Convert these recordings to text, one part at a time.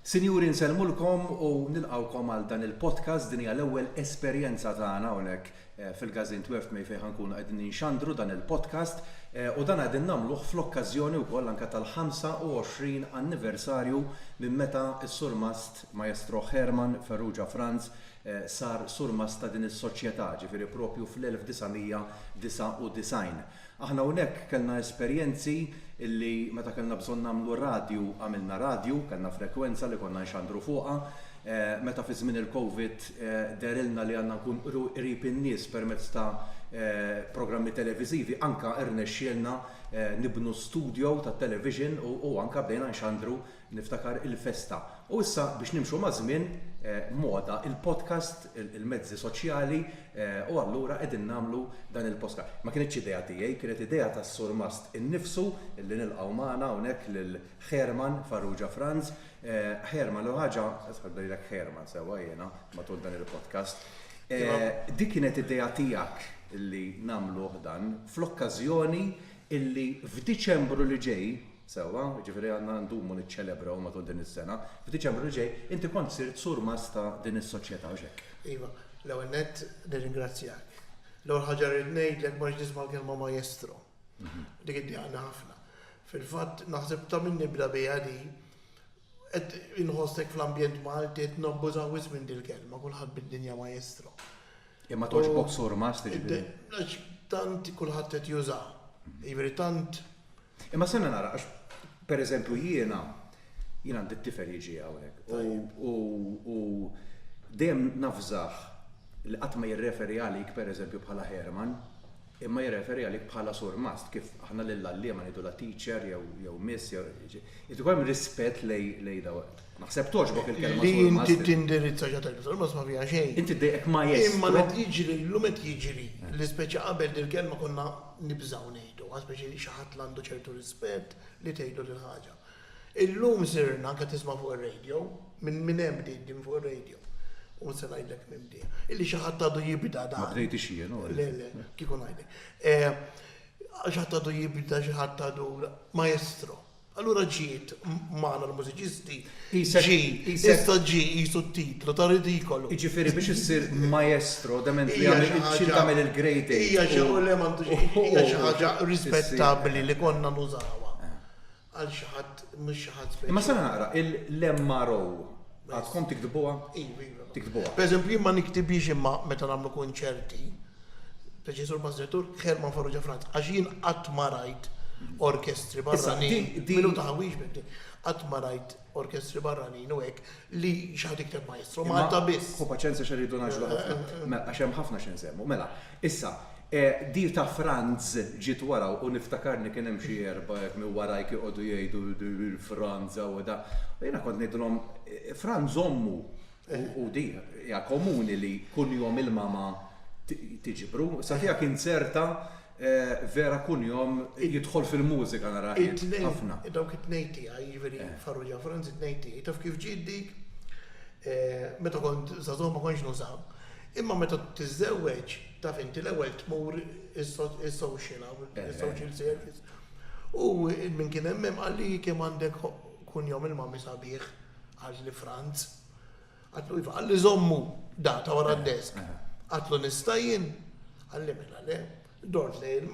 Sinjuri nsellmulkom u nilqgħukom għal dan il-podcast din hija l-ewwel esperjenza tagħna hawnhekk eh, fil-Gazin 12 May fejn ħankunu qegħdin ninxandru dan il-podcast eh, u dan qegħdin nagħmluh fl-okkażjoni wkoll anke tal-25 anniversarju minn meta s-surmast Maestro Herman Ferrugia Franz sar surmast ta' din is-soċjetà, ġifieri proprju fl-1999. Aħna hawnhekk kellna esperjenzi li meta kellna bżonn nagħmlu radju għamilna radju, kellna frekwenza li konna nxandru fuqha. Meta fi żmien il-Covid dehrilna li għandna nkunu qrib in-nies permezz ta' programmi televiżivi anke rnexxielna nibnu studjo tat-television u anke bdejna nxandru Niftakar il-festa. U issa biex nimxu maż-żmien, moda il-podcast, il-mezzi soċjali u allura qegħdin nagħmlu dan il-postka. Ma kinitx idea tiegħi, kienet idea tas-Surmast innifsu li nilqgħu magħna hawnhekk lil Herman Farrugia Franz. Herman, l-ewwel ħaġa, isħaq ngħidlek Herman sewwa jiena matul dan il-podcast. Dik kienet idea tiegħek li nagħmluh dan fl-okkażjoni li f'Diċembru li ġej Sewwa, jiġifieri għandna ndumu niċċelebraw matul din is-sena. F'Diċembru li ġej, inti kont sirt surmast ta' din is-Soċjetà, hux hekk? Iva. L-ewwel nett, nirringrazzjak. L-ewwel ħaġa li rrid ngħidlek ma rridx nisma' l-kelma maestro. Dik iddiqaqni ħafna. Fil-fatt, naħseb ta' min nibda biha di, qed inħossek fl-ambjent Malti qed nabbużaw wisq minn dil-kelma, kulħadd bid-dinja maestro. Imma togħġbok surmast, jiġifieri? Għax tant kulħadd qed jużaha. Jiġifieri tant Imma stenna nara għax pereżempju jiena jien għandi t-tifel jiġi hawnhekk u u dejjem nafżah li qatt ma jirreferi għalik pereżempju bħala Herman imma jirreferi għalik bħala surmast kif aħna lill-għalliema ngħidu la teacher jew jew miss jew irid ikun hemm rispett lej lej daw. Naħseb togħġbok il-kelma surmast. Li inti tindirizza ġa tajba surmast ma fiha xejn. Inti dejjek ma' jgħid. Imma meta jiġri llum qed jiġri li speċi qabel dil-kelma konna nibżgħu ngħiduha, speċi li xi ħadd l-għandu ċertu rispett li tgħidlu dil-ħaġa. Illum sirna, qed nisma' fuq ir-radio, minn minn hemm bdiet din fuq ir-radio, u ma se ngħidlek minn bdiet, illi xi ħadd għadu jibda dan. Ma bdejtix jien, hu. Le, le, kieku ngħidlek. Xi ħadd għadu jibda, xi ħadd għadu, maestro. Allura ġiet magħna l-mużiċisti, ġie, issa ġie qisu t-titlu ta' ridikolu. Jiġifieri biex issir maestro dement li trid tagħmel il-grade eight. Hija xi ħaġa, le m'għandux, hija xi ħaġa rispettabbli li konna nużawha għal xi ħadd, mhux xi ħadd speċjali. Imma sar naqra, il-MRO. Għadkom tiktbuha? Iva, iva. Tiktbuha. Per eżempju, jien ma niktibhiex imma meta nagħmlu kunċerti, Preċessur Bażretur, Herman Farrugia Franz, għax jien qatt ma rajt orkestri barranin. Minu taħwix biddi. Qatt ma rajt orkestri barranin u hekk li xaħat ikteb maestro, Malta biss. U paċenza xerridu naġlu ħafna. Mela, għax hemm ħafna xi nsemmu. Mela, Issa, di ta' Franz ġiet wara u niftakarni kien hemm xi erbgħa hekk minn warajk joqogħdu jgħidu Franz hawn u dak. U jiena kont ngħidilhom Franz ommu u di hija komuni li kunjom il-mama tiġbru. Sa tiegħek inzerta vera kunjom jidħol fil-mużika nara ħafna. It-tnejn, dawk it-tnejn tiegħi, jiġifieri Farrugia u Franz it-tnejn tiegħi. Taf kif ġiet dik? Meta kont żagħżugħ ma kontx nuża. Imma meta tiżżewweġ, taf inti, l-ewwel tmur is-social hawn, is-social service. U min kien hemm hemm qal li kemm għandek kunjom il-mami sabiħ għal li Franz. Għatlu iva, għalli żommu data wara d-desk. Għatlu nistajin, għalli mela le, Dort lejn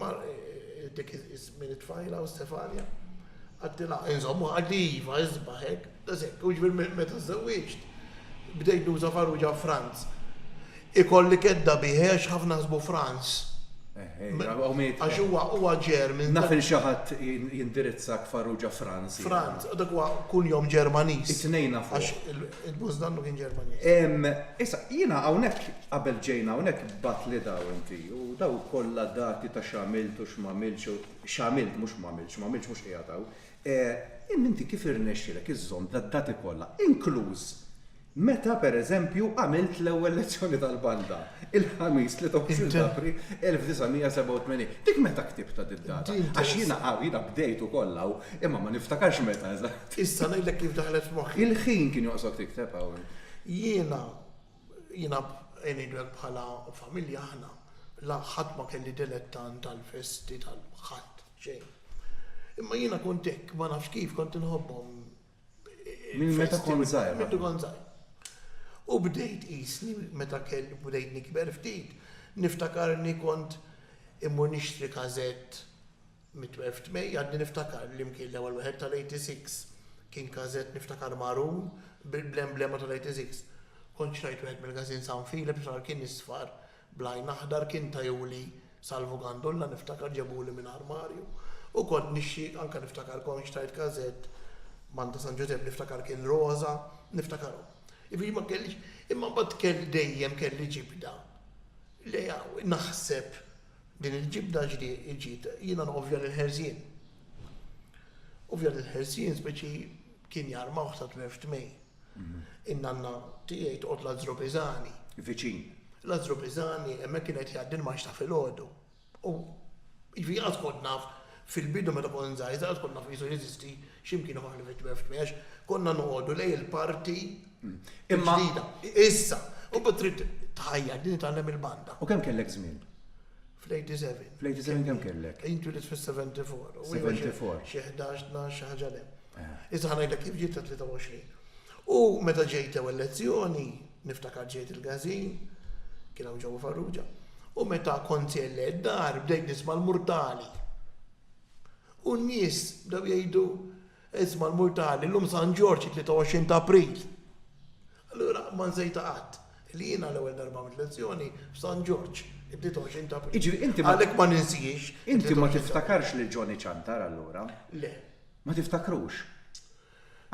dik iż-żmien it-tfajla u Stefania. Għedtilha, Inżommuha għandi iva, isbaħ hekk. Eżempju, jiġifieri meta żżewwiġt, bdejt nuża Farrugia Franz. Ikolli kedda bih għax ħafna ħasbu Franz. Għax huwa German. Naf li xi ħadd jindirizzak Farrugia Franz. Franz, dak huwa kunjom Ġermaniż. It-tnejn nafuh. Għax il-boss dannu kien Ġermaniż. Issa, jiena hawnhekk Qabel ġejna hawnhekk b'għatli daw inti, u daw kollha dati ta' x'għamilt u x'm'għamiltx u, x'għamilt mhux m'għamiltx, m'għamiltx mhux qiegħed hawn. Eh, imma inti kif irnexxielek iżżomm dad-dati kollha, inkluż meta, per eżempju, għamilt l-ewwel lezzjoni tal-banda, il-Ħamis, 23 ta' April 1987. Dik meta ktibtha did-data? Għax jiena hawn, jiena bdejt ukoll hawn, imma ma niftakarx meta eżatt. Issa ngħidlek kif daħlet f'moħħi. Il-ħin kien joqsok tikteb hawn. Jiena Jiena ngħidulek bħala familja aħna la ħadd ma kelli dilettant tal-festi tal ħadd xejn. Imma jiena kont hekk ma nafx kif kont inħobbhom Minn meta kont żgħir? Minn meta kont żgħir. U bdejt qisni meta kelli bdejt nikber ftit niftakarni kont immur nixtri każett Mit-12 t'Mej għadni niftakar li mkien l-ewwel wieħed tal-86 kien każett niftakar marun bl-emblema tal-86. Kont xtrajt wieħed mill-gażin San Filip x'nar kien isfar bl-għajn aħdar kien tajuli Salvu Gandulla niftakar ġebuli minn armarju u kont nixxi anke niftakar kont xtrajt każett Manta San Ġużepp niftakar kien roża niftakarhom. Jiġifieri ma kellix imma mbagħad kelli dejjem kelli ġibda li naħseb Din il-ġibda ġiet, jiena nqovja lill-ħerzien. Ovvja lill-ħerzien speċi kien jarmawh sa tmir f'tmej. In-nanna tiegħi toqgħod Lazzru Pisani. Viċin. Lazzru Pisani hemmhekk kien qed jgħaddi l-maxta filgħodu. U jiġifieri qatt kont naf Fil-bidu meta kont żgħażagħ kont naf li jisu jeżisti xi mkien ieħor għal vittmi għax għax konna noqogħdu lejn il-parti l-ġdida. Issa, u bad trid tħajjar din tgħallem il-banda. U kemm kellek żmien? Fl-87. Fl-87 kemm kellek? Jien twilit fis-74. 74. Xi 11, 12, xi ħaġa le. Issa ħa ngħidlek kif ġiet ta' 23. U meta ġejt ewwel lezzjoni, Niftakar ġejt il-każin, kien hawn ġewwa Farrugia, u meta kont sejjer lejn id-dar bdejt nisma' l-murtali. U n-nies bdew jgħidu, Isma' l-murtali, llum San Ġorġ, it-23 ta' April. Allura ma nsejtha qatt, li jiena l-ewwel darba għamilt lezzjoni f'San Ġorġ, it-23 ta' April. Jiġifieri inti ma. Għalhekk ma ninsiex. Inti ma tiftakarx lil Johnny Ciantar allura? Le. Ma tiftakrux?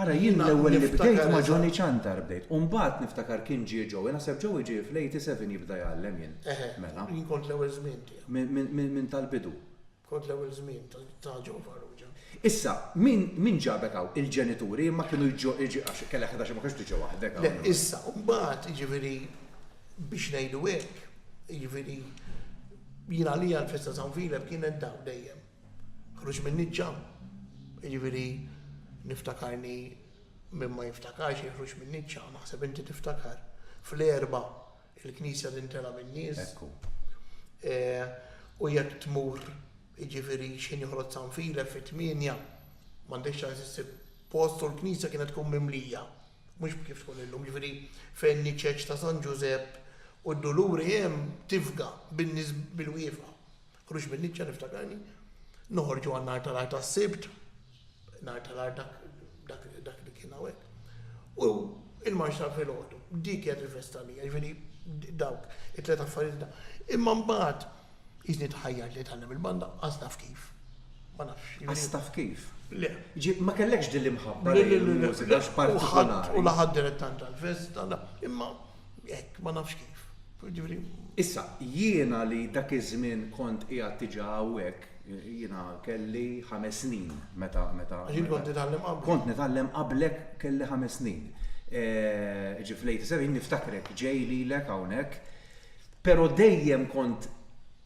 Ara jien l-ewwel li bdejt ma' Johnny Ciantar bdejt u mbagħad niftakar kien ġie Joey, naħseb Joey ġie fl-87 jibda jgħallem jien. Eħe. Mela. Jien kont l-ewwel żmien tiegħu. Minn tal-bidu. Kont l-ewwel żmien ta' Joe Farrugia. Issa, min min ġabek hawn? Il-ġenituri imma kienu jġo għax kellek ħdax ma kienx tiġi waħdek hawn. Le, issa, u mbagħad, jiġifieri, biex ngħidu hekk, jiġifieri, jien għalija l-festa ta' San Filep kienet dawn dejjem. Ħruġ min-niċċa, jiġifieri niftakarni min ma jiftakarx jħruġ min-niċċa, naħseb inti tiftakar. Fl-erba il-knisja tintela min-nies. Eh, u jekk tmur jiġifieri xejn joħroġ sanfile fit-tmienja, m'għandekx ċans issib post u l-knisja kienet tkun mimlija. Mhux kif tkun illum, jiġifieri fejn niċċeċ ta' San Ġużepp u d-duluri hemm tifga bin-nies bil-wiefa. Ħruġ min-niċċa niftakarni. Noħorġu għal nhar tal-art tas-sibt, nhar tal-art dak li kien hawnhekk. U il-marx ta' filgħodu, dik kienet il-festa li jiġifieri dawk it-tliet affarijiet da. Imma mbagħad jiżni tħajjar li tgħallem il-banda qas naf kif. Ma nafx. Qas taf kif? Le. Ma kellekx din l-imħabba li l-mużika partikolari. U laħad direttant tal-festa, imma Hekk, ma nafx kif. Jiġifieri. Issa, jiena li dak iż-żmien kont qiegħed diġà hawnhekk, jiena kelli ħames snin meta, meta. Għax int kont titgħallem qablek. Kont nitgħallem qablek kelli ħames snin. Ġifieri fl-eighty seven niftakrek ġej lilek hawnhekk, però dejjem kont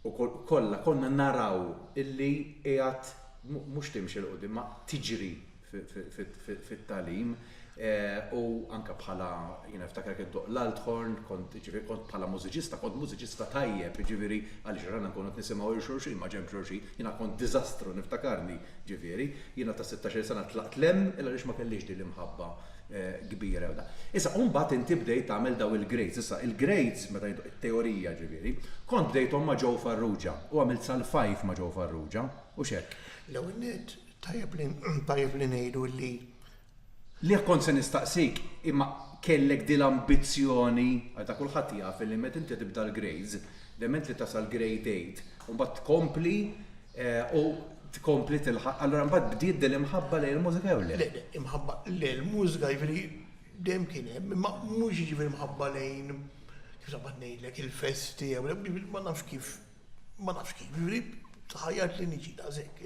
u kollha konna naraw illi qiegħed mhux timxi 'l quddiem, ma tiġri fit-tagħlim u anke bħala jiena niftakar kien toq l-althorn, kont jiġifieri kont bħala mużiċista, kont mużiċista tajjeb, jiġifieri għaliex rana nkunu qed nisimgħu lil xulxin ma' ġenb xulxin, jiena kont diżastru niftakarni, jiġifieri, jiena ta' sittax-il sena tlaqt 'l hemm illa għaliex ma kellix din l-imħabba kbira jew da. Issa u mbagħad inti bdejt tagħmel dawn il-grades, issa il-grades meta ngħidu it-teorija jiġifieri, kont bdejthom ma' Joe Farrugia u għamilt sal-five ma' Joe Farrugia, hux hekk? L-ewwel nett, Tajjeb li ngħidu li. Lih kont se nistaqsik, imma kellek din l-ambizzjoni, għax dak kulħadd jaf li meta inti tibda l-grades, dement li tasal grade eight, u mbagħad tkompli u tkompli tilħaq, allura mbagħad bdiet din l-imħabba lejn il-mużika jew le? Imħabba lejn il-mużika jiġifieri dejjem kien hemm, imma mhux jiġifieri mħabba lejn, kif se ngħidlek, il-festi jew le, ma nafx kif. ma nafx kif, jiġifieri tħajjart li niġi daqshekk,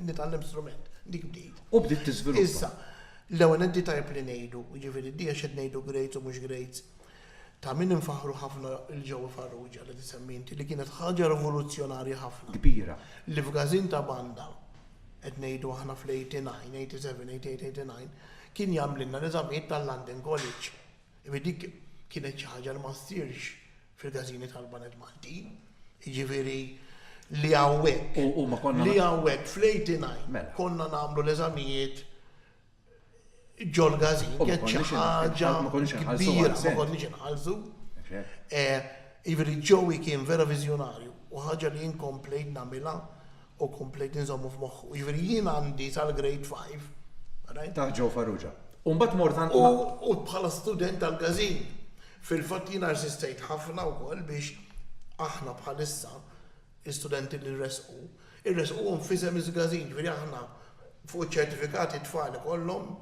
nitgħallem strument, dik bdiet. U bdiet tiżviluppa. Issa, l-ewwel qed tajjeb li ngħidu, jiġifieri di għax qed ngħidu grades u mhux grades, ta' min infaħħru ħafna lil Joe Farrugia li tisemmi inti li kienet ħaġa rivoluzzjonarja ħafna. Kbira. Li f'gażin ta' banda, qed ngħidu aħna fl-89, 87, 88, 89, kien jagħmlilna l-eżamijiet tal-London College. Imma dik kienet xi ħaġa li ma ssirx fil-każini tal-baned Maltin, jiġifieri li hawnhekk, li hawnhekk fl-89 konna nagħmlu l-eżamijiet ġol-każin, kienet xi ħaġa kbira, ma konniex inħallsu. Jiġifieri Joey kien vera viżjonarju u ħaġa li jien komplejt nagħmilha u komplejt inżommu f'moħħu. Jiġifieri jien għandi sal-grade five. Taħt Joe Farrugia. U mbagħad mort għand. U bħala student tal-każin. Fil-fatt jiena rsistejt ħafna wkoll biex aħna bħalissa l-istudenti li rresqu, irresquhom f'isem il-każin. Jiġifieri aħna fuq iċ-ċertifikati tfal ikollhom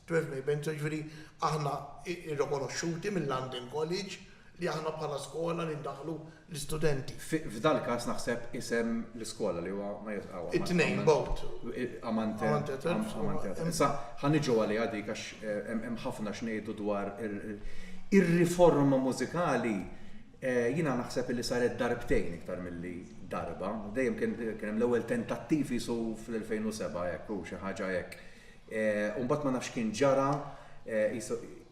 12 May Benzo, jiġifieri aħna irrikonoxxuti mill-London College. li aħna bħala skola li ndaħħlu l-istudenti. F'dal-każ naħseb isem l-iskola li huwa ma jitqgħu għal. It-tnejn both. Amante. Amante. Issa ħa niġu għaliha dik għax hemm ħafna x'ngħidu dwar ir-riforma mużikali Eh, jina naħseb li saret darbtejn iktar mill-li darba. Dejjem kien hemm l-ewwel tentattiv jisu fl-2007 hekk u xi ħaġa hekk. u mbagħad ma nafx x'kien ġara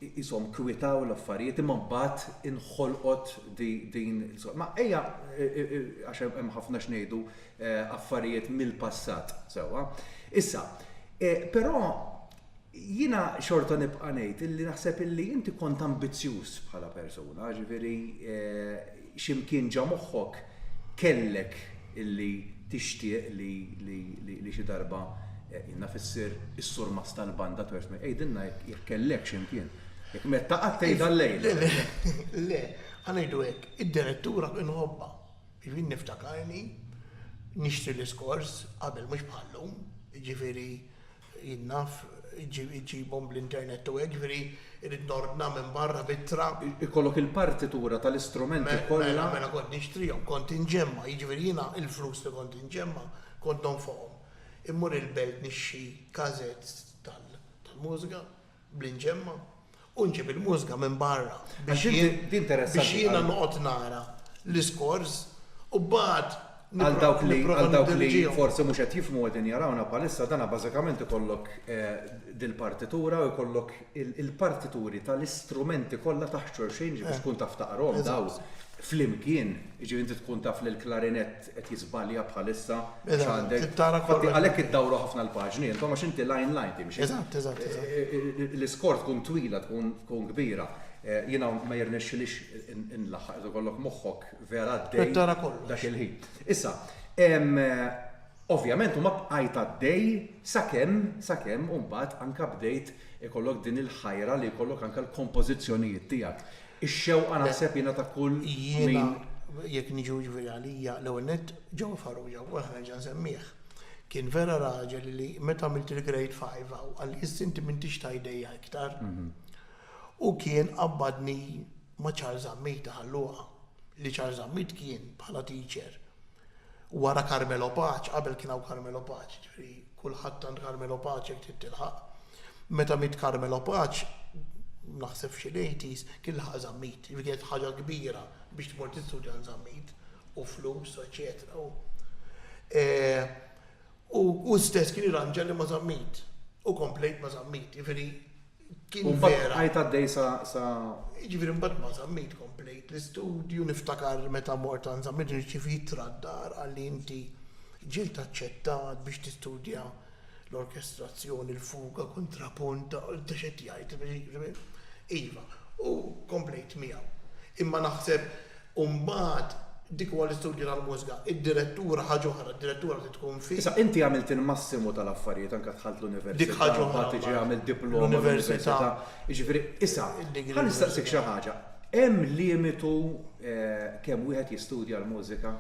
qishom kwitaw l-affarijiet imma mbagħad inħolqot din ma ejja għax hemm ħafna x'ngħidu affarijiet mill-passat sewwa. Issa, però jiena xorta nibqa' ngħid illi naħseb illi inti kont ambizzjuż bħala persuna, ġifieri Xi mkien ġa moħħok kellek illi tixtieq li xi darba jien naf issir is-surmast tal-banda twerf miegħek. Għidilna jekk kellekx imkien. Jekk metta qatt tgħidha llejla. Le, le, le, ħa ngħidu hekk, id-direttura inħobbha. Jiġifieri niftakarni nixtri l-iskors qabel mhux bħal-lum, jiġifieri Jien naf, iġġibhom bl-internet u hekk, jiġifieri rrid nordna minn barra b'ittra. Ikollok il-partitura tal-istrumenti kollha? Mela, mela kont nixtrihom, kont inġemma', jiġifieri jiena l-flus li kont inġemma' kont nonfoqhom. Immur il-belt nixtri kasetts tal-mużika, bl-inġemma u nġib il-mużga minn barra biex jiena noqgħod nara l-iskors u mbagħad Għal dawk li għal dawk li forsi mhux qed jifhmu qegħdin jarawna bħalissa dana bażikament ikollok eh, dil-partitura u jkollok il-partituri tal-istrumenti kollha taħt xorxejn biex eh. tkun taf taqrom daw flimkien, ġifieri inti tkun taf li l-klarinett qed jiżbalja bħalissa x'għandek. Għalhekk iddawru ħafna l-paġni intom għax inti line line timxi. Eżatt, eżatt, eżatt. L-iskor tkun twila tkun tkun kbira. Jiena ma jirnexxilix inlaħħaq irid ikollok moħħok vera għaddej. Qed tara kollox. Dak il-ħin. Issa, ovvjament u ma bqajt għaddej sakemm sakemm u mbagħad anke bdejt ikollok din il-ħajra li jkollok anke l-kompożizzjonijiet tiegħek. Ix-xewqa naħseb jiena ta' kull min. Jiena jekk niġu jiġifieri għalija l-ewwel nett John Farrugia u anke nerġa' nsemmieh kien vera raġel li meta għamilt il-Grade Five hawn qal li issa inti m'intix ta' idejja iktar. U kien qabbadni ma' Charles Zammit, Ħal Luqa, li Charles Zammit kien bħala teacher. Wara Carmelo Pace, qabel kien hawn Carmelo Pace, jiġifieri kulħadd għand Carmelo Pace jekk trid tilħaq. Meta miet Carmelo Pace, naħseb f'xi l-eighties, kien laħaq Żammit. Jiġifieri kienet ħaġa kbira biex tmur tistudja għand Żammit, u flus, eċċetera. U hu stess kien irranġa li ma' Żammit. U komplejt ma' Żammit. Jiġifieri, kien vera. U mbagħad bqajt għaddej sa sa. Jiġifieri mbagħad ma żammejt komplejt l-istudju, niftakar meta mort għand żammejt irċivi ittra d-dar qalli inti ġiet aċċettat biex tistudja l-orkestrazzjoni, l-fuga, kuntrapunt, ta' x'qed jgħid, iva, u komplejt miegħu. Imma naħseb U mbagħad, dik huwa l-istudju tal-mużga. Id-direttura ħaġa oħra, d-direttura trid tkun fi. Issa, inti għamilt il-massimu tal-affarijiet, anke dħalt l-università. Dik ħaġa oħra. Mbagħad tiġi għamilt diploma l-università. Jiġifieri, issa, ħa nistaqsik xi ħaġa. Hemm limitu kemm wieħed jistudja l-mużika?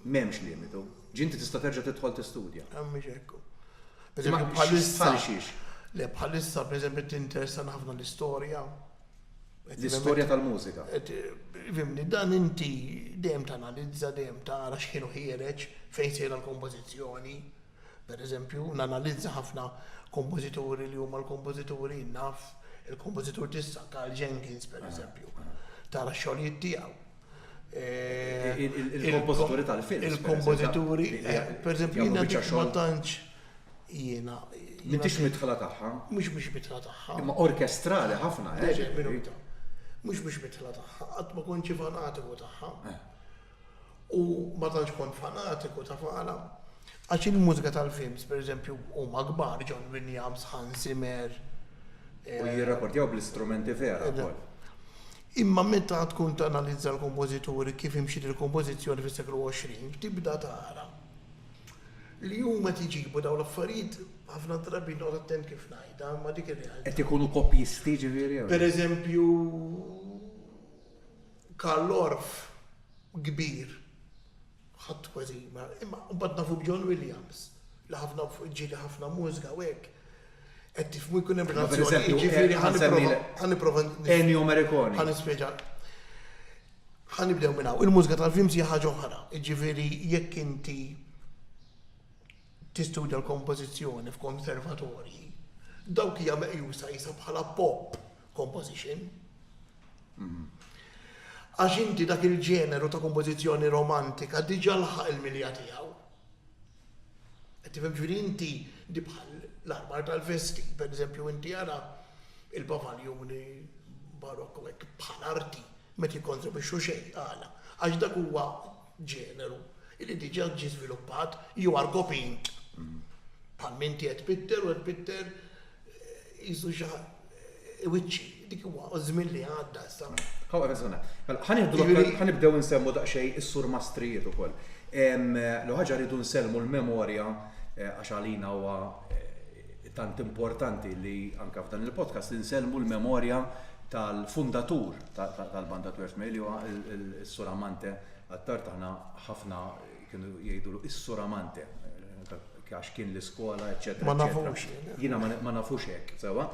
M'hemmx limitu. Ġifieri inti tista' terġa' tidħol tistudja. Ah, mhux hekk hu. Bħalissa. Sa xiex? Le, bħalissa, pereżempju, tinteressani ħafna l-istorja. L-istorja tal-mużika. Fimni, dan inti dejjem tanalizza, dejjem tara x'ħinu ħiereġ, fejn sejra l-kompożizzjoni. Per eżempju, nanalizza ħafna kompożituri li huma l-kompożituri naf, il-kompożitur t'issa, Karl Jenkins, per eżempju. Tara x-xogħlijiet tiegħu. Il-kompożituri tal-films. Il-kompożituri, per eżempju, ma tantx. Jiena. M'intix midħla tagħha. Mhux biex midħla tagħha. Imma orkestrali ħafna, eh? Le, minuta. Mhux biex midħla tagħha, qatt ma kontx fanatiku tagħha. Eh. U ma tantx kont fanatiku ta' fala. Għax il-mużika tal-films, per eżempju, huma kbar, John Williams, Hans Zimmer. Eh, u jirrakordjaw bl-istrumenti vera. Eh, Imma meta tkun tanalizza l-kompożituri kif imxiet il-kompożizzjoni fis-seklu 20, tibda tara Li huma qed iġibu dawn l-affarijiet ħafna drabi noqgħod attent kif ngħidha imma dik ir-realtà. Qed ikunu kopjisti jiġifieri? Pereżempju Karl Orff kbir ħadd kważi ma imma mbagħad nafu b'John Williams li ħafna ġieli ħafna mużika u hekk. Qed tifhmu jkun hemm relazzjoni jiġifieri ħa nipprova. Ennio Morricone. Ħa nispjega. Ħa nibdew minn hawn. Il-mużika tal-films hija ħaġa oħra, jiġifieri jekk inti tistudja l-kompożizzjoni f'konservatorji, dawk hija meqjusa qisha bħala pop composition. Għax inti dak il-ġeneru ta' kompożizzjoni romantika diġà laħaq il-milja tiegħu. Qed tifhem ġifieri inti li bħal l-armar tal-vesti, pereżempju inti ara il-pavaljuni barokk u hekk bħal arti ma qed jikkontribwixxu xejn, għala? Għax dak huwa ġeneru li diġà ġie żviluppat jew għargopin bħal m'inti qed tpitter u qed tpitter Qisu xi wiċċi, dik huwa żmien li għadda issa. Hawn reżona. Mela, ħanibdew insemmu daqsxejn is-sur mastrijiet ukoll. L ħaġa rridu nsellmu l-memorja eh, għax għalina huwa eh, tant importanti li anka f'dan il-podcast li nsellmu l-memorja tal-fundatur tal-banda Twert Meli huwa s-sur Amante għattar taħna ħafna Kienu jgħidulu is-Sur Amante, għax kien l-iskola, eċetera. Ma nafux. Jiena ma nafux hekk, sewa.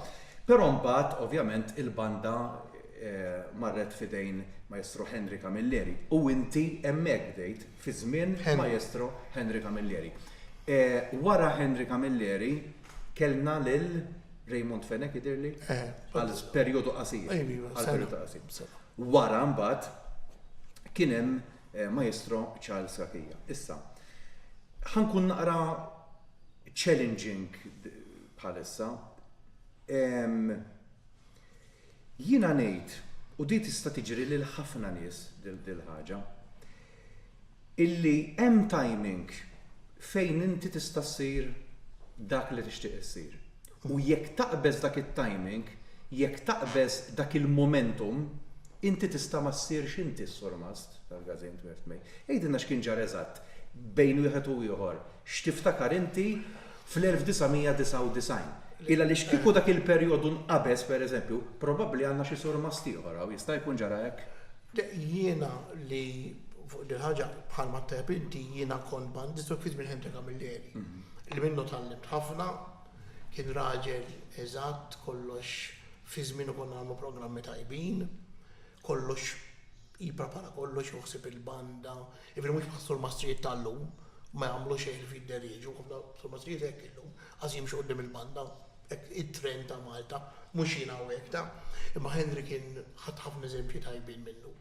Però mbagħad, ovvjament, il-banda eh, marret fidejn Maestro Henry Camilleri. U inti hemmhekk bdejt fi żmien Maestro Henry Camilleri. Eh, wara Henry Camilleri kellna lil Raymond Fenek idirli eh, għal perjodu qasir. Għal perjodu qasir. Wara mbagħad kien hemm Maestro Charles Rachia. Issa, ħa nkun naqra challenging bħalissa. Jiena ngħid, u di tista' tiġri lil ħafna nies dil-ħaġa, illi hemm timing fejn inti tista' ssir dak li tixtieq issir. U jekk taqbeż dak it-timing, jekk taqbeż dak il-momentum, inti tista' ma ssirx inti s-surmast tal-Gażejn Tmirt May. Għidilna x'kien ġara eżatt bejn wieħed u ieħor, x'tiftakar inti fl-1999. Il għaliex kieku dak il-perjodu nqabeż, pereżempju, probabbli għandna xi surmast ieħor hawn, jista' jkun ġara hekk? Jiena li fuq din il-ħaġa, bħalma tajjeb inti, jiena kont bandist u ftit minn ħin ta' Camilleri. li minnu tgħallimt ħafna, kien raġel eżatt kollox fi żmienu konna nagħmlu programmi tajbin, kollox jipprepara kollox hu ħsieb il-banda, jiġifieri mhux bħal surmastrijiet ta' llum ma jagħmlu xejn irid jidderieġu, ħafna surmastrijiet hekk illum qas jimxu quddiem il-banda, hekk it-trend ta' Malta, mhux jien hawn hekk ta'. Imma Henry kien ħadt ħafna eżempji tajbin minnu.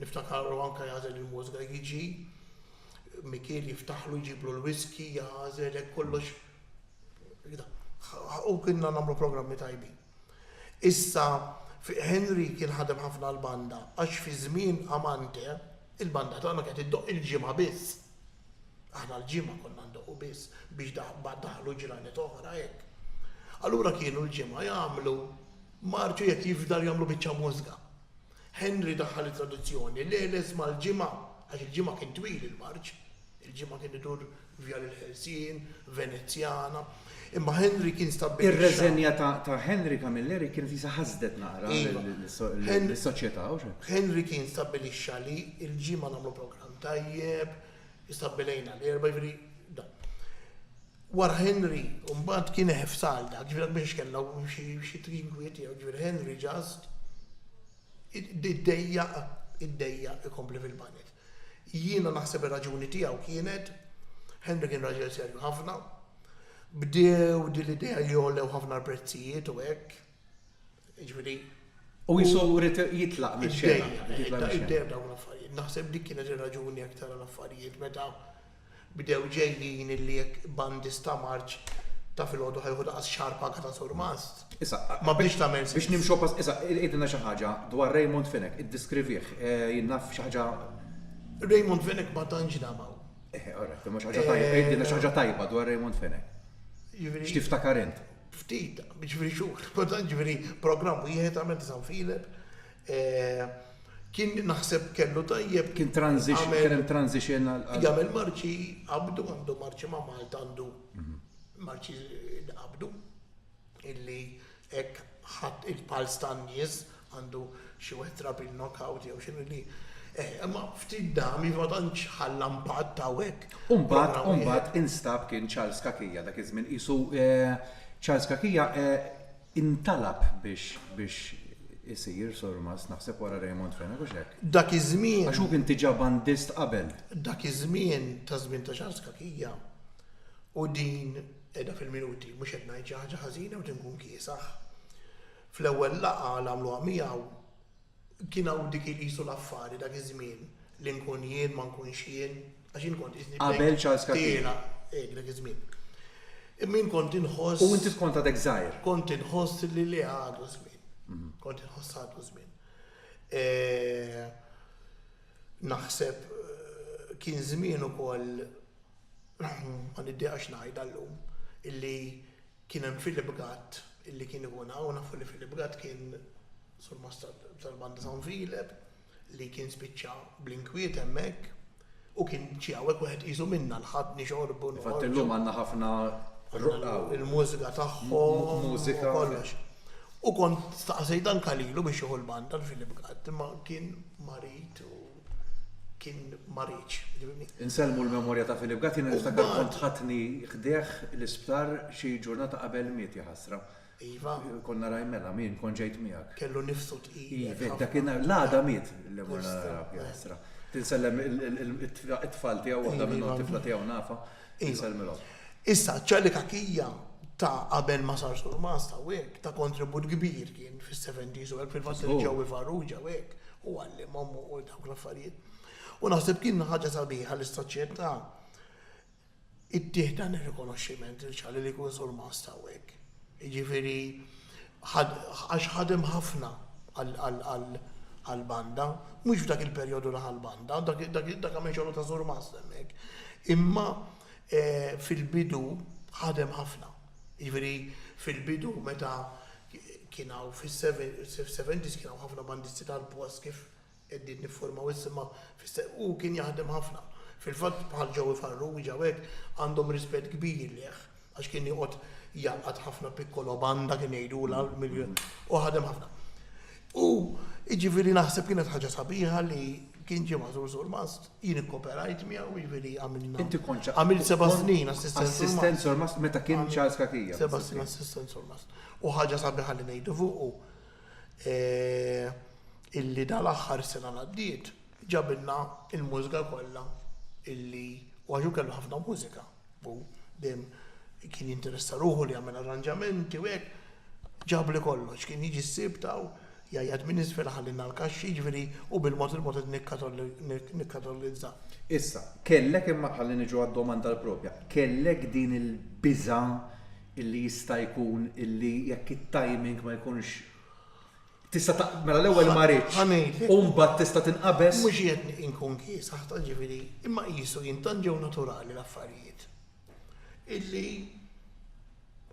Niftakarlu anke jagħżel il-mużika jiġi Mikiel jiftaħlu jġiblu l-whisky, jagħżel hekk kollox u kienna nagħmlu programmi tajbin. Issa Henry kien ħadem ħafna l-banda għax fi żmien Amante il-banda tagħna kienet iddoqq il-ġimgħa biss. Aħna l-ġimgħa konna ndoqqu biss biex daħlu ġranet oħra hekk. Allura kienu l-ġimgħa jagħmlu marċu jekk jifdal jagħmlu biċċa mużga. Henry daħħal it-tradizzjoni l-għeles mal-Ġimgħa, għax il-Ġimgħa kien twil il-marċ, il-Ġimgħa kien idur Vjal il-Ħelsien, Venezjana, imma Henry kien stabbilixxa. Ir-reżenja ta' Henry Camilleri kienet jisa ħasdet naqra lis-soċjetà, hux hekk? Henry kien stabbilixxa li l-Ġimgħa nagħmlu programm tajjeb, stabbilejna l-Erbgħa, jiġifieri dan. Wara Henry, mbagħad kien eħef Sal dak, ġifieri għalkemm kellna xi trinkwit tiegħu, ġifieri Henry just iddejjaq, iddejjaq ikompli fil-banet. Jiena naħseb ir-raġuni tiegħu kienet, Henry kien raġel serju ħafna, bdew din l-idea li għolew ħafna l-prezzijiet u hekk, Jiġifieri. U jisu rrit jitlaq minn xena. Id-dejjem dawn l-affarijiet. Naħseb dik kienet ir-raġuni jekk tara l-affarijiet meta bdew ġejjin illi jekk bandista marċ ta' filgħodu ħa jieħu daqas xahar paga ta' surmast. Issa, ma bdiex tagħmel sens. Biex nimxu pass, issa għidilna xi ħaġa dwar Raymond Fenech, iddiskrivih, jien naf xi ħaġa. Raymond Fenech ma tantx damaw. Eħe, orrett, imma xi ħaġa tajba, għidilna xi ħaġa tajba dwar Raymond Fenech. Jiġifieri. X'tiftakar int? ftit, jiġifieri xhur, kultant jiġifieri programm wieħed għamilt is' San Filep. Kien naħseb kellu tajjeb. Kien transition, kien hemm transition għal. Jagħmel marċi qabdu, għandu marċi ma' Malta għandu mhm. marċi qabdu illi hekk ħadd il-pals tan-nies Għandu xi wieħed drabi l-knockout jew x'inhu li eh, imma ftit dami ma tantx ħalla impatt hawnhekk. U mbagħad, u mbagħad instab kien Charles Cachia dak iż-żmien qisu eh, Charles Cachia eh, intalab biex biex isir Surmast naħseb wara Raymond Fenech u x'hekk. Dak iż-żmien. Għax hu kien diġà bandist qabel. Dak iż-żmien ta' żmien ta' Charles Cachia u din qiegħda fil-minuti mhux qed ngħid xi ħaġa ħażina u tinkun kiesaħ. Fl-ewwel laqgħa li għamluha miegħu, kien hawn dik il-qisu l-affari dak iż-żmien, li nkun jien, ma nkunx jien, għax jien kont qisni bdejt. Qabel Charles Cathie. Tiela, hekk dak iż-żmien. Imma jien kont inħoss. U inti kont għadek żgħir. Kont inħoss li le għadu żmien. Kont inħoss għadu żmien. Naħseb kien żmien ukoll, ma niddiqax ngħidha llum, illi. Kien hemm Philip Gatt illi kien ikun hawn, nafu li Philip Gatt kien surmasta tal-Banda San Filep li kien spiċċa bl-inkwiet hemmhekk u kien ġie hawnhekk wieħed qisu minna l-Ħadd nixorbu noħorġu. Infatti llum għandna ħafna ruqqa hawn. Il-mużika tagħhom. Mużika. Kollox. U kont staqsejt anke lilu biex jieħu l-banda l-Philip Gatt imma kien marid u. kien marid. Insellmu l-memorja ta' Philip Gatt, jiena niftakar kont ħadni ħdejh l-isptar xi ġurnata qabel miet, jaħasra. Iva. Konna raj mela, min kont ġejt miegħek. Kellu nifsu tqil. Iva, dakinhar l-għada miet li morna naraw, jaħasra. Tinsellem it-tfal tiegħu waħda minnhom tifla tiegħu nafa. Issa, ċ-Charlie Cachia ta' qabel ma sar Surmast hawnhekk, ta' kontribut kbir kien fis-seventies u hekk fil-fatt li Joey Farrugia u hekk, hu għallimhom u dawk l-affarijiet. U naħseb kien ħaġa sabiħa li s-soċjetà ttih dan ir-rikonoxximent lil Charlie li jkun Surmast hawnhekk. Jiġifieri, għax ħadem ħafna għall-banda, mhux f'dak il-perjodu li ħa l-banda, dak għamel xogħlu ta' surmast hemmhekk, imma fil-bidu ħadem ħafna. Jiġifieri fil-bidu meta kien hawn fis-seventies kien hawn ħafna bandisti tal-post kif Qegħdin nifformaw issa imma fis-seħħ hu kien jaħdem ħafna. Fil-fatt bħal Joey Farrugia u hekk għandhom rispett kbir lejh għax kien joqgħod jgħaqqad ħafna piccolo banda kien jgħidulha u ħadem ħafna. U jiġifieri naħseb kienet ħaġa sabiħa li kien ġie maħżur surmast, jien ikkoperajt miegħu jiġifieri għamilna. Inti kont ċa- Għamilt seba' kont snin assistent Assistent surmast. sormast meta kien Charles Kakija. Seba' snin assistent surmast. U ħaġa sabiħa li ngħidu fuqu illi dal-aħħar sena l-għaddiet ġabilna l-mużga kollha illi u għax hu kellu ħafna mużika u dejjem kien jinteressa ruħu li jagħmel arranġamenti u hekk ġabli kollox kien jiġi s-Sibt hawn jgħajjat minn isfel iħallilna l-kaxxi jiġifieri u bil-mod il-mod qed nikkatolizza. Issa, kellek imma ħalli niġu għad-domanda l-proprja, kellek din il-biża' illi jista' jkun illi jekk it-timing ma jkunx tista' ta' mela l-ewwel ma ridx u mbagħad tista' tinqabeż. Mhux qiegħed inkun kiesaħ ta' ġifieri imma qisu jien tant ġew naturali l-affarijiet illi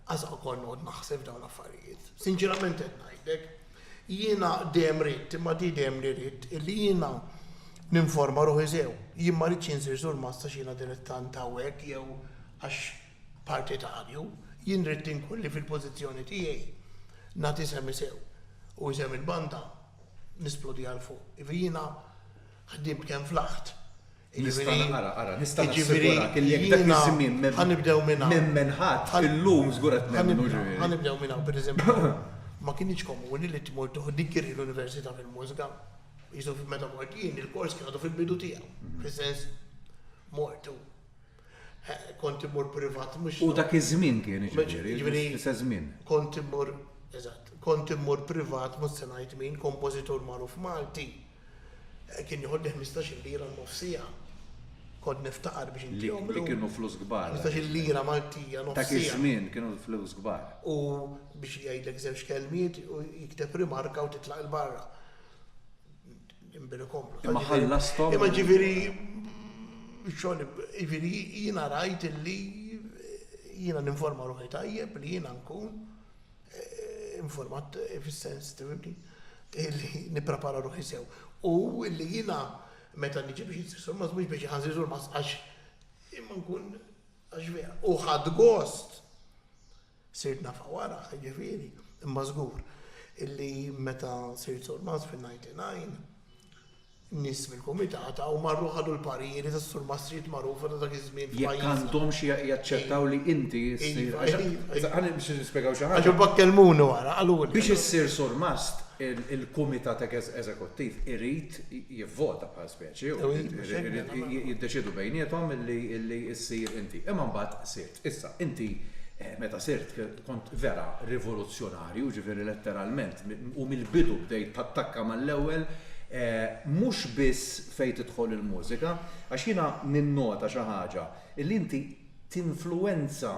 qas ukoll noqgħod naħseb f'dawn l-affarijiet. Sinċerament qed ngħidlek, jiena dejjem ridt imma di dejjem li ridt illi jiena ninforma ruħi sew. Jien ma ridx insir sur massa x'jiena dilettant hawnhekk jew għax partitarju, jien ridt inkun li fil-pożizzjoni tiegħi nagħti semi sew u isem il-banda nisplodiha 'l fuq. Jiġifieri jiena ħdimt kemm flaħt. Nista' ara, ara, nista' nassigurarak li jekk dak iż-żmien m'emmen ħadd, illum żgur qed nemmnu ġifieri. Ħa nibdew minn hawn, pereżempju, ma kinitx komuni li tmur tieħu degree l-università fil-mużika. Qisu meta mort jien il-kors kien għadu fil-bidu tiegħu, fis-sens mort u. Kont immur privat mhux. U dak iż-żmien kien jiġifieri, l-istess żmien. Kont immur, eżatt, kont immur privat mhux se ngħid min, kompożitur magħruf Malti. Kien joħodni ħmistax-il lira n-nofs siegħa. Kont niftaqar biex intihom illum. Li kienu flus kbar. Ħmistax-il lira Maltija nofs siegħa. Dak iż-żmien kienu flus kbar. U biex jgħidlek żewġ kelmiet u jikteb rimarka u titlaq 'il barra. Imma ħallasthom u. Imma ġifieri, xogħol, ġifieri jiena rajt illi jiena ninforma ruħi tajjeb li jiena nkun informat fis-sens, tifhimni, illi nipprepara ruħi sew. U illi jiena meta niġi biex insir sormaz mhux biex inħa nsir sormaz għax imma nkun għax vera. U ħadt gost! Sirt nafha wara, jiġifieri, imma żgur illi meta sirt Surmast fin-99, nies mill-Kumitata u marru ħadu l-parijieri tas-Surmastrijiet magħrufa ta' dak iż-żmien f'pajjiżna. Jekk għandhomx jaċċettaw li inti ssir. Ħalli biex nispjegaw xi ħaġa. Għax imbagħad kellmuni wara, qaluli. Biex issir Surmast, il-Kumitat Eżekuttiv irid jivvota bħala speċi u jiddeċiedu bejniethom illi ssir inti. Imma mbagħad sir. Issa, inti meta sirt kont vera rivoluzzjonarju, jiġifieri letteralment, u mill-bidu bdejt tattakka mal-ewwel, mhux biss fejn tidħol il-mużika, għax jiena ninnota xi ħaġa, li inti tinfluwenza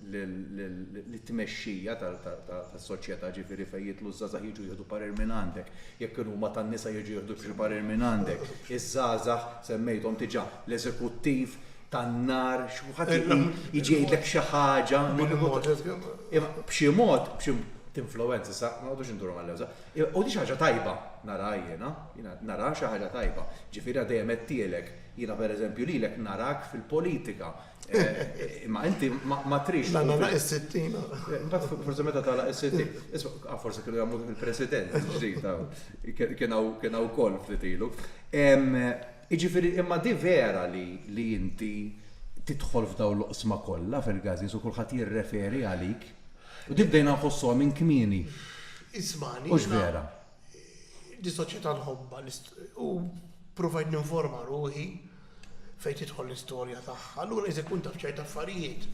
lit-tmexxija tas-soċjetà, jiġifieri fejn jidħlu ż-żgħażagħ jiġu jieħdu parir minn għandek, jekk kienu huma tan-nisa jiġu jieħdu xi parir minn għandek, iż-żgħażagħ semmejthom diġà, l-eżekuttiv, tan-nar, xi kulħadd jiġi jgħidlek xi ħaġa. B'xi mod, b'xi tinfluwenza, sa ma nqogħdux induru mal-lewża. U di ħaġa tajba nara jiena, jiena nara xi ħaġa tajba. Ġifieri dejjem għedtielek, jiena pereżempju lilek narak fil-politika. Eh, imma inti ma trix. La nagħlaq is-sittina. Eh, imbagħad forsi meta tagħlaq is-sittina. Isma' ah, forsi kienu jagħmlu il-President ġdid kien hawn kien hawn wkoll ftit ilu. Jiġifieri, imma di vera li li inti tidħol f'dawn l-oqsma kollha fil-gazees u kulħadd jirreferi għalik? U di bdejna nħossuha minn kmieni. Ismagħni, jiena. Hux vera? Di soċjetà nħobbha u ppruvajt ninforma ruħi fejn tidħol l-istorja tagħha. Allura jista' jkun taf ċerti affarijiet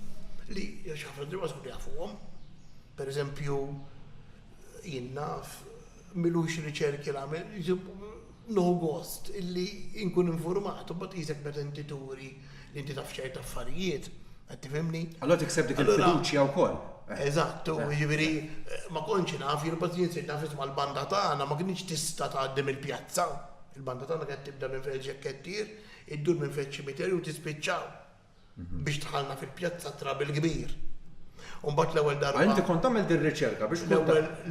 li għax ħafna drabi ma tkunx tafuhom. Per eżempju, jien naf milux riċerki li għamilt. Nieħu gost li nkun infurmat u mbagħad qisek meta inti turi li inti taf ċerti affarijiet, qed tifhimni? Allura tikseb dik il-fiduċja wkoll. Eżatt, u jiġifieri ma kontx naf, jien imbagħad jien sirt naf isma' l-banda tagħna ma kinitx tista' tgħaddi mill-pjazza. Il-banda tagħna kienet tibda minn Feldxekettier, iddur minn Feldċimiterju u tispiċċa biex dħalna fil-pjazza trab il-kbir. Umbat l-ewwel darba. Inti kont tagħmel din riċerka biex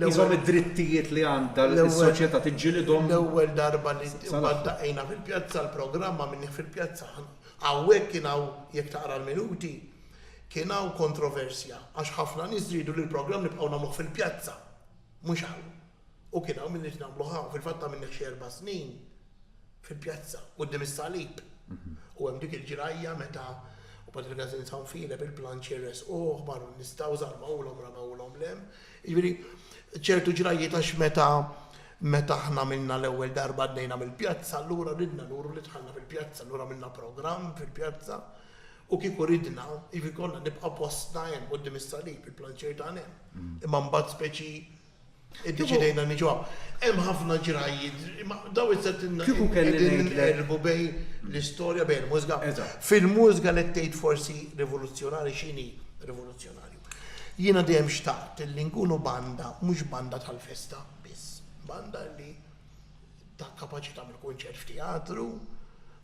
iżhom id-drittijiet li għandha l-soċjetà tiġġilidhom. L-ewwel darba li daqina fil-pjazza l-programma minni fil-pjazza. Hawnhekk kien hawn jekk taqra l-minuti kien hawn kontroversja għax ħafna nies ridu li l-programm nibqgħu nagħmluh fil-pjazza mhux hawn. U kien hawn min-nies nagħmluh hawn, fil-fatt għamilnih xi erba' snin fil-pjazza, quddiem is-salib. U hemm dik il-ġrajja meta u Patri Gazin San Filep il-planċ irresquh, marru n-nies taw żarmawlhom, ramewlhom l-hemm. Jiġifieri ċertu ġrajjiet għax meta meta aħna għamilna l-ewwel darba għaddejna mill-pjazza, allura ridna nuru li dħalna fil-pjazza, allura għamilna programm fil-pjazza u kieku ridna, jiġifieri konna nibqa' postna hemm quddiem is-salib, il-planċier tagħna hemm. Imma mbagħad speċi Iddeċidejna niġu hawn. Hemm ħafna ġrajjiet, imma dawn is-sentiment. Kieku kelli ngħidlek. Qegħdin nqerbu bejn l-istorja, bejn il-mużika. Eżatt. Fil-mużika li tgħid forsi rivoluzzjonarji x'inhi rivoluzzjonarju. Jiena dejjem xtaqt li nkunu banda, mhux banda tal-festa biss. Banda li ta' kapaċi tagħmel kunċert f'teatru,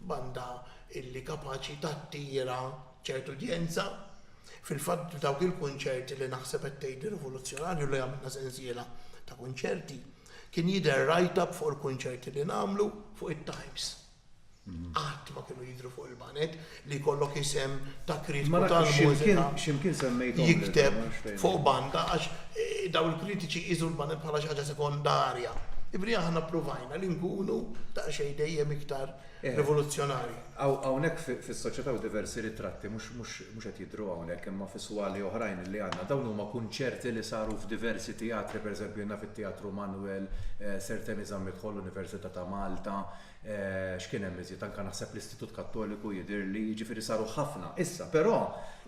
banda li kapaċi tattira. ċert udjenza, fil-fatt dawk il-kunċerti li naħseb qed tgħid rivoluzzjonarju li għamilna sensiela ta' kunċerti, kien jidher write-up fuq il-kunċerti li nagħmlu fuq it-Times. Qatt ma kienu jidhru fuq il-banet li jkollok isem ta' kritiku tal-mużika. X'imkien semmejthom. Jikteb fuq banda għax dawn il-kritiċi jqisu l-banet bħala xi ħaġa sekondarja. Jiġifieri aħna ppruvajna li nkunu daqsxejn dejjem iktar rivoluzzjonarji. Hawnhekk fis-soċjetà u diversi ritratti mhux mhux qed jidhru hawnhekk imma fi swali oħrajn li għandna. Dawn huma kunċerti li saru f'diversi teatri, pereżempju naf it-Teatru Manwel, Sir Temi Zammit-Hall, Università ta' Malta, x'kien hemm iżjed, anke naħseb l-Istitut Kattoliku jidhirli, jiġifieri saru ħafna. Issa, però,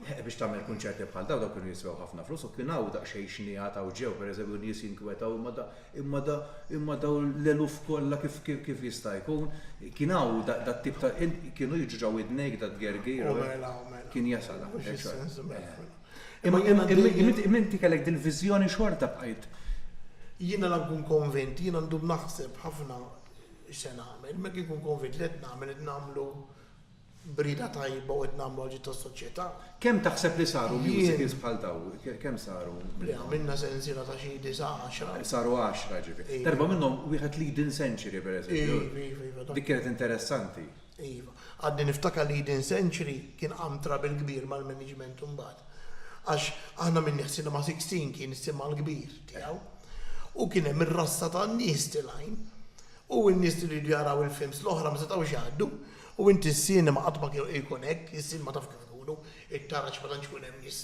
biex tagħmel kunċerti bħal dawn, dawn kienu jiswew ħafna flus u kien hawn daqsxejn xniegħat hawn ġew, pereżempju nies jinkwetaw imma Imma dawn l-eluf kollha kif jista' jkun? Kien hawn dat-tip ta', kienu jiġu ġo widnejk dat-tgergir? O mela, o mela. Kien jasal hawn. Imma inti kellek dil-viżjoni xorta bqajt. Jiena la nkun konvint, jiena ndum naħseb ħafna x'se nagħmel, imma jekk inkun konvint li qed nagħmel qed nagħmlu b'rieda tajba u qed nagħmlu għal ġid tas-soċjetà. Kemm taħseb li saru musicals bħal dawn? Kemm saru? Le għamilna sensiela ta' xi disa' għaxra. Saru għaxra ġifieri. Darba minnhom wieħed Leading Century pereżempju. Iva, iva, iva. Dik kienet interessanti. Iva. Għadni niftakar Leading Century kien qaam trouble kbir mal-management imbagħad. Għax aħna minni ħsielna Sixteen kien is-simha l-kbir tiegħu. U kien hemm ir-rassa ta' nies tilgħin. U n-nies li riedu jaraw il-films l-oħra ma setgħux jgħaddu. U inti s-sinema qatt ma kienu ikun hekk, is-sinema taf kif ikunu, it-taraġ ma tantx ikun hemm nies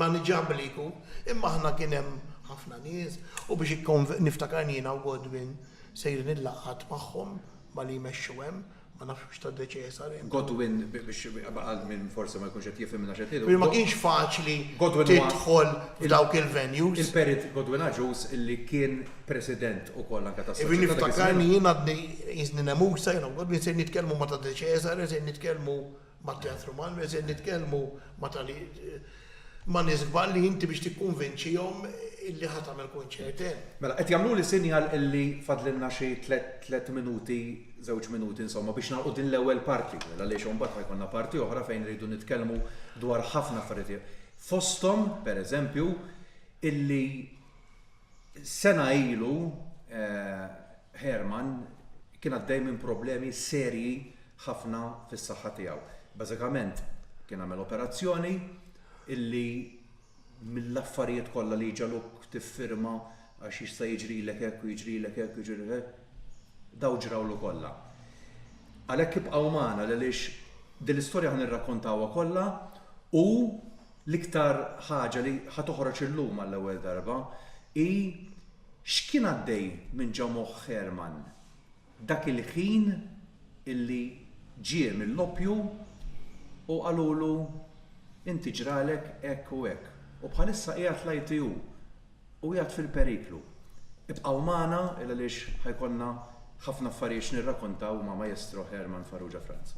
maniġabbli jkun, imma aħna kien hemm ħafna nies u biex niftakar jiena u Godwin sejrin il-laqgħat magħhom ma' li jmexxu hemm, ma nafx mhux tad-De Cesare. Godwin biex għal min forsi ma jkunx qed jifhimna xi qed ngħidu. Ġifieri ma kienx faċli tidħol f'dawk il-venues. Il-Perit Godwin Agius illi kien President ukoll anke tas-Soċjetà ta' Gizmina. Irrid niftakar li jien għadni qisni nemusa, jien hawn qudni se nitkellmu ma' ta' De Cesare, se nitkellmu mat-Teatru Malmö, se nitkellmu ma' ta' li ma' nies kbar li inti biex tikkunvinċihom illi ħa tagħmel kunċert hemm. Mela, qed jagħmluli sinjal illi fadlilna xi tliet minuti, żewġ minuti insomma biex nagħlqu din l-ewwel parti, għaliex hawn mbagħad ħa jkollna parti oħra fejn irridu nitkellmu dwar ħafna affarijiet. Fosthom, pereżempju, illi Sena ilu Herman kien għaddej minn problemi serji ħafna fis-saħħa tiegħu. Bażikament kien għamel operazzjoni illi mill-affarijiet kollha li jġagħluk tiffirma għax jista' jiġrilek hekk u jiġrilek hekk u jiġrilek hekk, dawn ġrawlu kollha. Għalhekk ibqgħu magħna għaliex din l-istorja ħa nirrakkontawha kollha u L-iktar ħaġa li ħa toħroġ illum għall-ewwel darba hi x'kien għaddej minn ġo moħħ Herman dak il-ħin illi ġie mill-oppju u qalulu inti ġralek hekk u hekk u bħalissa qiegħed l-ITU u qiegħed fil-periklu. Ibqgħu magħna il għaliex ħa jkollna ħafna affarijiet x'nirrakontaw ma' Maestro Herman Farrugia Franz.